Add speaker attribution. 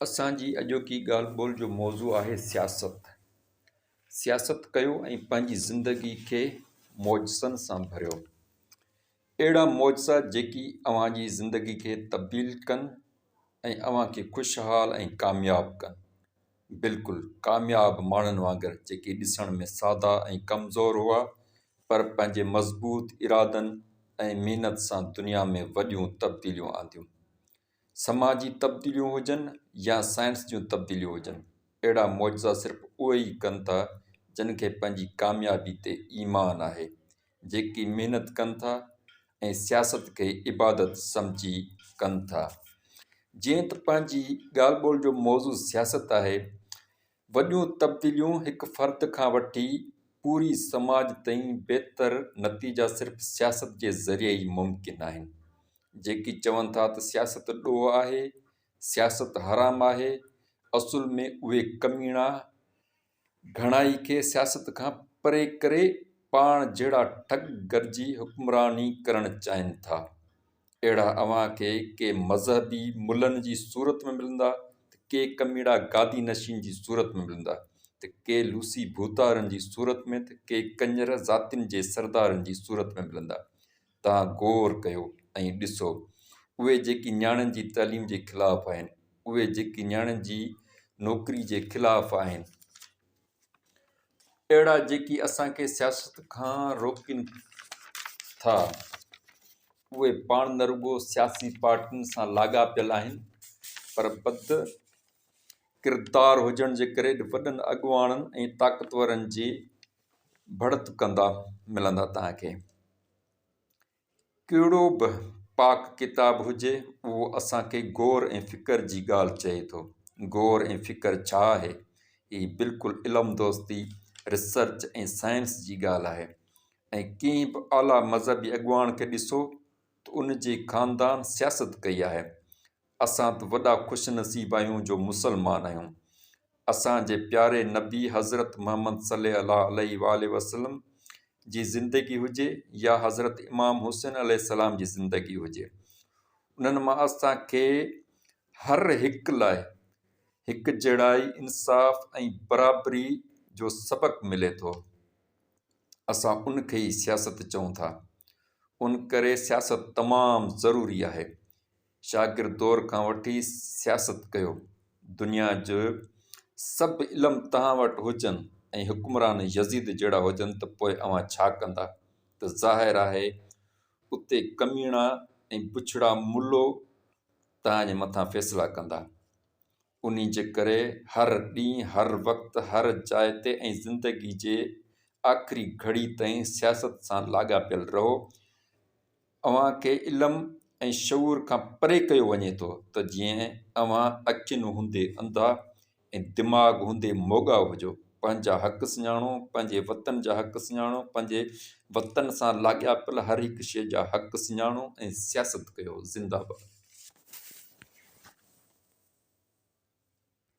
Speaker 1: اسان جي اڄوڪي ڳالهه ٻولهه جو موضوع آهي سياست. سياست ڪيو ۽ پنهنجي زندگي کي معجزن سان ڀريو. اهڙا معجزا جيڪي اوهان جي زندگي کي تبديل ڪن ۽ اوهان کي خوشحال ۽ ڪامياب ڪن. بلڪل ڪامياب ماڻهن وانگر جيڪي ڏسڻ ۾ سادا ۽ ڪمزور هئا پر پنهنجي مضبوط ارادن ۽ محنت سان دنيا ۾ وڏيون تبديليون آنديون. سماجي تبديليون هجن يا سائنس جون تبديليون هجن، اهڙا معجزا صرف اهي ئي ڪن ٿا، جن کي پنهنجي ڪاميابي تي ايمان آهي، جيڪي محنت ڪن ٿا ۽ سياست کي عبادت سمجهي ڪن ٿا. جيئن ته پنهنجي ڳالهه ٻولهه جو موضوع سياست آهي، وڏيون تبديليون هڪ فرد کان وٺي پوري سماج تائين بهتر نتيجا صرف سياست جي ذريعي ئي ممڪن آهن. جيڪي چون ٿا ته سياست ڏوهه آهي، سياست حرام آهي، اصل ۾ اهي ڪميڻا گهڻائي کي سياست کان پري ڪري پاڻ جهڙا ٺڳ گڏجي حڪمراني ڪرڻ چاهين ٿا. اهڙا اوهان کي ڪي مذهبي ملن جي صورت ۾ ملندا ته ڪي ڪميڙا گادي نشين جي صورت ۾ ملندا ته ڪي لوسي ڀوتارن جي صورت ۾ ته ڪي ڪڃر ذاتين جي سردارن جي صورت ۾ ملندا. توهان غور ڪيو ۽ ڏسو. اهي جيڪي نياڻين جي تعليم جي خلاف آهن، اهي جيڪي نياڻين جي نوڪري جي خلاف آهن، اهڙا جيڪي اسان کي سياست کان روڪين ٿا اهي پاڻ نه رڳو سياسي پارٽين سان لاڳاپيل آهن پر بد ڪردار هجڻ جي ڪري وڏن اڳواڻن ۽ طاقتورن جي ڀڙت ڪندا ملندا تهان کي. ڪهڙو به پاڪ ڪتاب هجي، اهو اسان کي غور ۽ فڪر جي ڳالهه چئي ٿو. غور ۽ فڪر ڇا آهي؟ هي بلڪل علم دوستي، ريسرچ ۽ سائنس جي ڳالهه آهي ۽ ڪنهن به اعليٰ مذهبي اڳواڻ کي ڏسو ته ان جي خاندان سياست ڪئي آهي. اسان ته وڏا خوش نصيب آهيون جو مسلمان آهيون. اسان جي پياري نبي حضرت محمد صلي الله عليه واٰله وسلم جي زندگي هجي يا حضرت امام حسين عليه السلام جي زندگي هجي انهن مان اسان کي هر هڪ لاء هڪجهڙائي، انصاف ۽ برابري جو سبق ملي ٿو. اسان ان کي ئي سياست چئون ٿا. ان ڪري سياست تمام ضروري آهي. شاگرد دور کان وٺي سياست ڪيو. دنيا جي سڀ علم توهان وٽ هجن ۽ حڪمران يزيد جهڙا هجن ته پوء اوهان ڇا ڪندا؟ ته ظاهر آهي اتي ڪميڻا ۽ بڇڙا ملو توهان جي مٿان فيصلا ڪندا. انهي جي ڪري هر ڏينهن، هر وقت، هر جاء تي ۽ زندگي جي آخري گهڙي تائين سياست سان لاڳاپيل رهو. اوهان کي علم ۽ شعور کان پري ڪيو وڃي ٿو ته جيئن اوهان اکين هوندي انڌا ۽ دماغ هوندي موڳا هجو. پنهنجا حق سڃاڻو، پنهنجي وطن جا حق سڃاڻو، پنهنجي وطن سان لاڳاپيل هر هڪ شيء جا حق سڃاڻو ۽ سياست ڪيو. زنده باد.